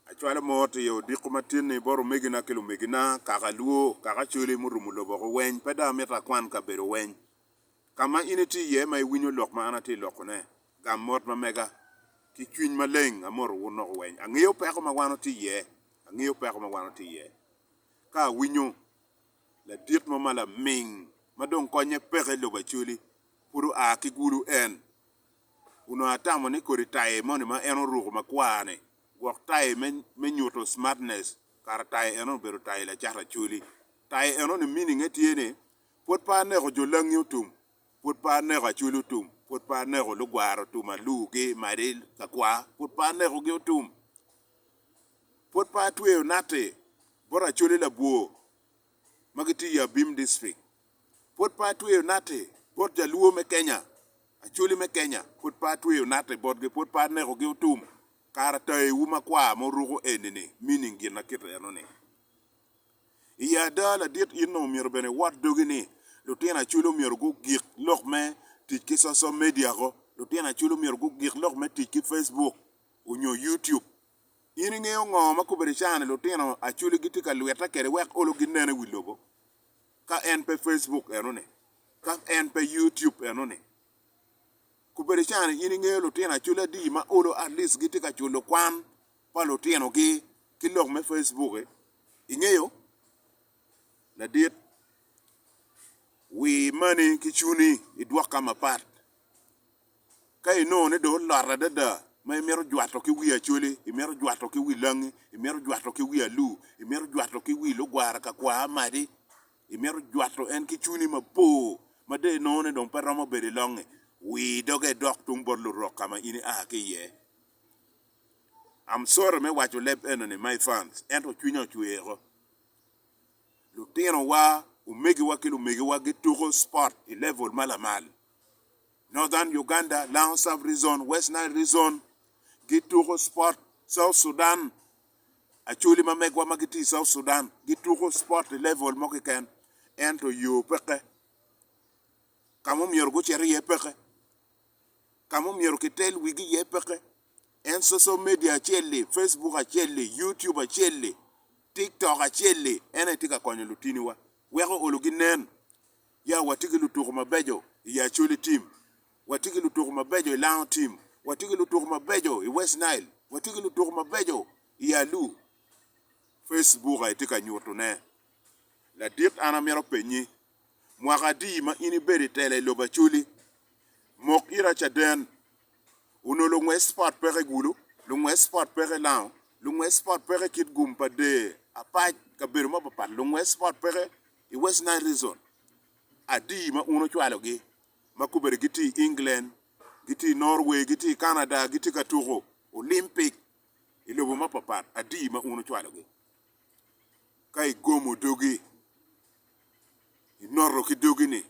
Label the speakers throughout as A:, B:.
A: Acwalo mot i odiko matin-ni bot omegina ki lumegina, kaka alwo, kaka acoli murumo lobo woko weny, pe dong amito akwan kabedo weny ka ma in itye iye ma iwinyo lok ma an atye lokone. Gam mot ma mega ki cwiny maleng. Amoto wun loko weny. Angeyo peko ma wan watye iye. Angeyo peko ma wan watye iye. Ka awinyo ladit mo ma laming ma dong konye peke i lobo acoli, pud oa ki gulu en. onongo atamo ni kodi taye moni ma en oruko makwar-ni gwok taye me nyuto smartness, kara taye eno obedo taye lacato acholi. Taye eno-ni meaning-nge tye ni, Pwod pe aneko jo langi otum, pwod pe aneko acholi otum, pwod pe aneko lugwara otum, alugi, madi, kakwa, pwod pe anekogi otum, pwod pe atweyo natti bot acholi labwor ma gitye i Abim District. Pud pe atweyo natti bot jaluo me Kenya, Acholi me Kenya pud pe atweyo natti botgi, pud pe anekogi otum, kara tayiwu makwar ma wuruko eni-ni meaning gin ma kit eno-ni? I ada ladit in dong omyero bene iwot dogi ni lutino Acholi omyero gugik lok me tic ki social media-go, lutino Acholi omyero gugik lok me tic ki Facebook onyo YouTube. In ingeyo ngo ma kobedi cawa ni lutino Acholi gitye ka lwitte kwede wek olo ginen i wi lobo? ka en pe Facebook enoni, ka en pe YouTube enoni. Kubedi cani in ingeyo lutino acoli adi ma olo at least gitye ka culo kwan pa lutinogi ki lok me Facebook-ki? Ingeyo? Ladit, wi mani ki cuni idwok ka mapat. Ka inongo ni dong olot adada ma imito jwato ki wi Acholi, imito jwato ki wi Langi, imito jwato ki wi Alu, imito jwato ki wi lugwara ka kwa Amadi, imito jwato en ki cwinyi mapor ma dong inongo ni dong pe romo bedo i longnge, wir doge idok tung bot Lurok ka ma in ia ki iye. I'm sorry me waco leb enoni my fans, ento cwinya ocweko. Lutinowa, omegiwa ki lumegiwa gituko sport i level ma lamal. Northern Uganda, Lango Sub Rezon, West Nile Rezon, gituko spot South Sudan, Acholi ma megwa ma gitye i South Sudan gituko spot i level mo keken ento yo peke, ka ma omyero gucit iye peke, ka ma omyero kitel wigi iye peke, en social media acel-li, Facebook acel-li, YouTube acel-li, TikTok acel-li en aye tye ka konyo lutiniwa weko olo ginen Ya, watye ki lutuku mabeco i Acholi Tim. Watye ki lutuku mabeco i Lango Tim. Watye ki lutuku mabeco i West Nile. Watye ki lutuku mabeco i Alu. Face book aye tye ka nyutu ne. Ladit an amito penyi, mwaka adi ma in ibedo i tela i lobo Acholi? Mok ita caden. Onongo lungwec spot peke i Gulu, lungwec spot peke i Lango, lungwec spot peke i Kitgum pa dee apac kabedo mapat pat, lungwec spot peke. i West Nile Region adi ma un ocwalogi ma kobedi gitye i England, gitye i Norway, gitye i Canada, gitye ka tuko Olympic i lobo mapapat adi ma un ocwalogi? Ka igomo dogi, inoto ki dogi-ni,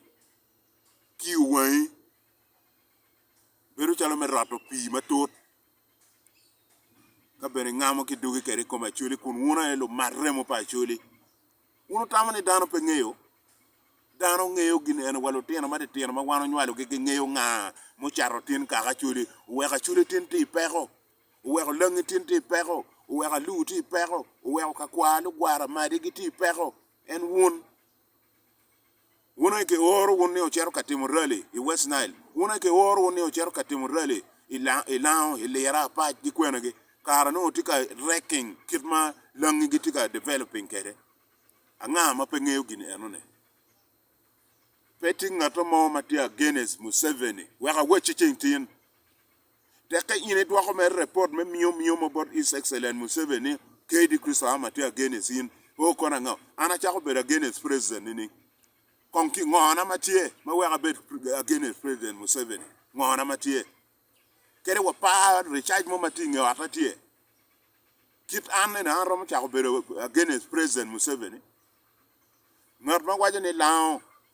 A: kiyo wangi bedo calo me roto pii matut, ka bene ingamo ki dogi kwede i kom Acholi kun un aye lumat remo pa Acholi. Wun wutamo ni dano pe ngeyo? Dano ngeyo gin eni wa lutino matitino ma wan onywalogi gingeyo nga mucato tin kaka acwali, oweko acwali tin tye i peko, oweko langi tin tye i peko, oweko alur tye i peko, oweko kakwar lugwara madi gitye i peko. En wun? Wun aye kioro wun ni wucito ka timo rali i West Nile. Wun aye kioro wun ni wucito ka timo rali i Lango, i Lira, Apac, ki kwenegi, kara nongo wutye ka wrecking kit ma langi gitye ka developing kwede. Anga ma pe ngeyo gin enoni? Pe tye ngat mo ma tye against Museveni. Wek awacci ceng tin. Tekke in idwoko mere report me miyo miyo mo bot His Excellent Museveni ni, Kaydi Christo Am atye against in. Oh kono ango? An acako bedo against president nining? Kong ki ngo na ma tye ma weko abed against president Museveni? Ngo na ma tye? Kadi wa par recharge mo ma tye inge otta tye. Kit an eni an romo cako bedo against president Museveni? Ngat ma waco ni lango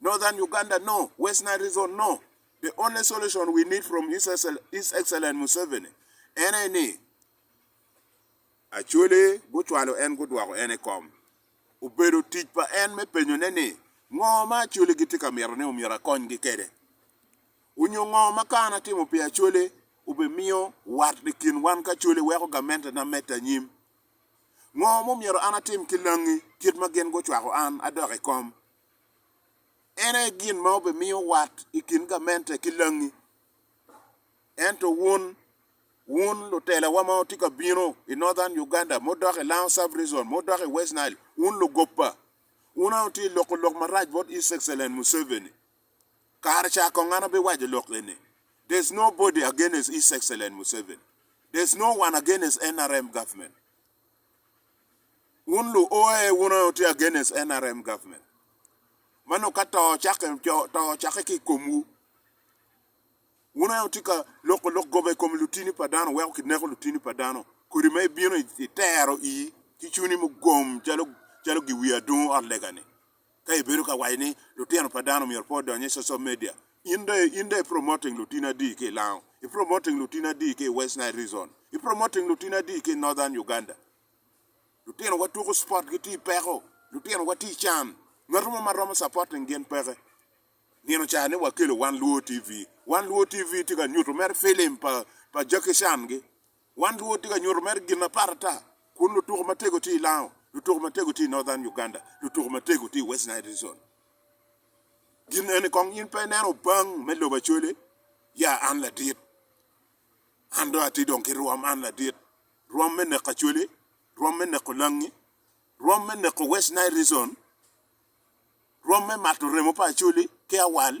A: Northern Uganda no, West Nile Region no, the only solution we need from His Excellent Museveni en aye ni Acholi gucwalo en gudwoko en i kom. Obedo tic pa en me penyone ni ngo ma Acholi gitye ka mito ni omyero akonygi kede? Onyo ngo ma ka an atimo pi Acholi obi miyo wat i kin wan ki Acholi weko gamente na mette anyim? Ngo ma omyero an atim ki langi kit ma gin gucwako an adok i kom? En aye gin ma obimiyo wat i kin gamente ki langi. Ento wun, wun lutelawa ma wutye ka bino i Northern Uganda, mudok i Lango Sub-Region, mudok i West Nile, wun lugoppa, wun aye wutye ka loko lok marac bot His Excellent Museveni. Kare ca kong an abiwaco lok eni, There's nobody against His Excellent Museveni. There's no one against NRM government. Wun lu OA wun onongo wutye against nrm government. Mano ka to ocakke, to ocakke ki i komwu. Wun onongo wutye ka loko lok goba i kom lutini pa dano weko kineko lutini pa dano kodi ma ibino itero ii ki cuni mugom calo calo giwi adungu ot lega ni. Ka ibedo ka waco ni lutino pa dano myero pe odony i social media, in dong in dong i promoting lutini adi ki i Lango? I promoting lutini adi ki i West Nile Reason? I promoting lutini adi ki i Northern Uganda? Lutinowa tuko sport gitye i peko, lutinowa tye i can, ngat mo ma romo supporting gin peke. Nino ca ni wakelo Wan Luo TV, Wan Luo TV tye ka nyuto mere film pa pa Jackie Chan gi. Wan luwo tye ka nyuto mere gin apar ata kun lutuko matego tye i Lango, lutuko matego tye i Northern Uganda, lutuko matego tye i West Nile Region. Gin eni kong in pe ineno obang me lobo Acholi? Ya an ladit. An dong atye dong ki rwom, an ladit. Rwom me neko Acholi, rwom me neko Langi, rwom me neko West Nile Region, rwom me mato remo pa Acholi ki Awal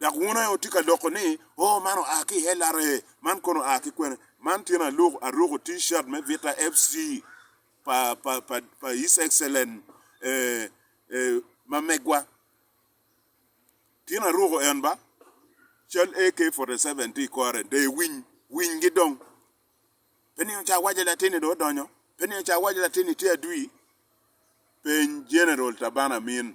A: Dok wun aye wutye ka loko ni, 'Oo, man oa ki i LRA, man kono oa ki kwene. Man tyen aruko T-shirt me Vita FC pa His Excellent mamegwa. Tyen aruko en ba? Cal AK47 tye i kore. Dee winy, winygi dong. Pe nino ca awaco latinni dong odonyo? Pe nino ca awaco latinni tye adwi? Peny General Tabane Amin.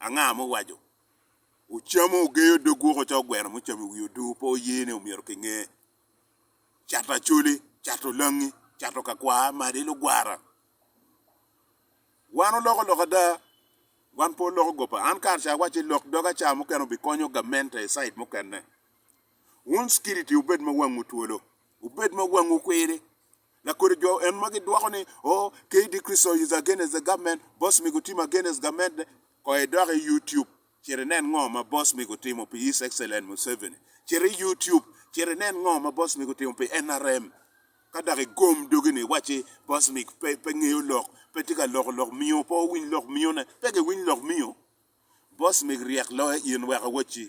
A: Anga ma owaco, Ocamo ogeyo dog woko ca ogweno mucamo i wi odoo pe oye ni omyero ki nge. Cato acholi, cato langi, cato ka kwa, madi lugwara. Wan oloko lok ada, wan pe oloko gopa. An kare ca awaco ilok doga ca mukene obi konyo gamente i side mukene. Wun security wubed ma wangwu twolo, wubed ma wangwu kwiri. Lakodi jo en ma gidwoko ni oh KD Christo is against the government, boss mi gutim against government de, koy idok i YouTube cit inen ngo ma boss mi gutimo pi His Excellent Museveni, cit i YouTube cit inen ngo ma boss mi gutimo pi NRM, ka dok igom dogi ni iwacci boss mi pe pe ngeyo lok, pe tye ka loko lok miyo, pe owiny lok miyo ne, pe giwiny lok miyo, boss mi ryek loyo in wek awacci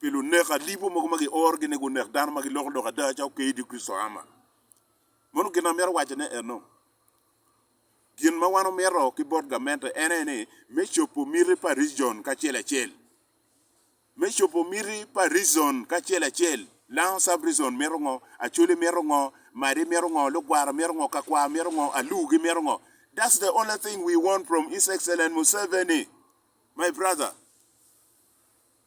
A: pi lunek alibo mogo ma giorogi ni gunek dano ma giloko lok ada ca ope idi Kricito ama. Mono gin amito wacone eno, gin ma wan omito ki bot gamente en aye ni me cobo miti pa region kacel acel. Me cobo miti pa region kacel acel, Lango Sub-region mito ngo, Acholi mito ngo, Madi mito ngo, Lugwara mito ngo, Kakwar mito ngo, Alur gimito ngo. That's the only thing we want from His Excellent Museveni, my brother.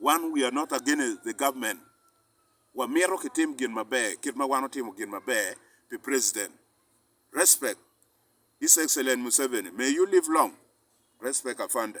A: Wan we are not against the government, wamito kitim gin maber kit ma wan otimo gin maber pi president. Respect His Excellent Museveni, may you live long, respect Afande.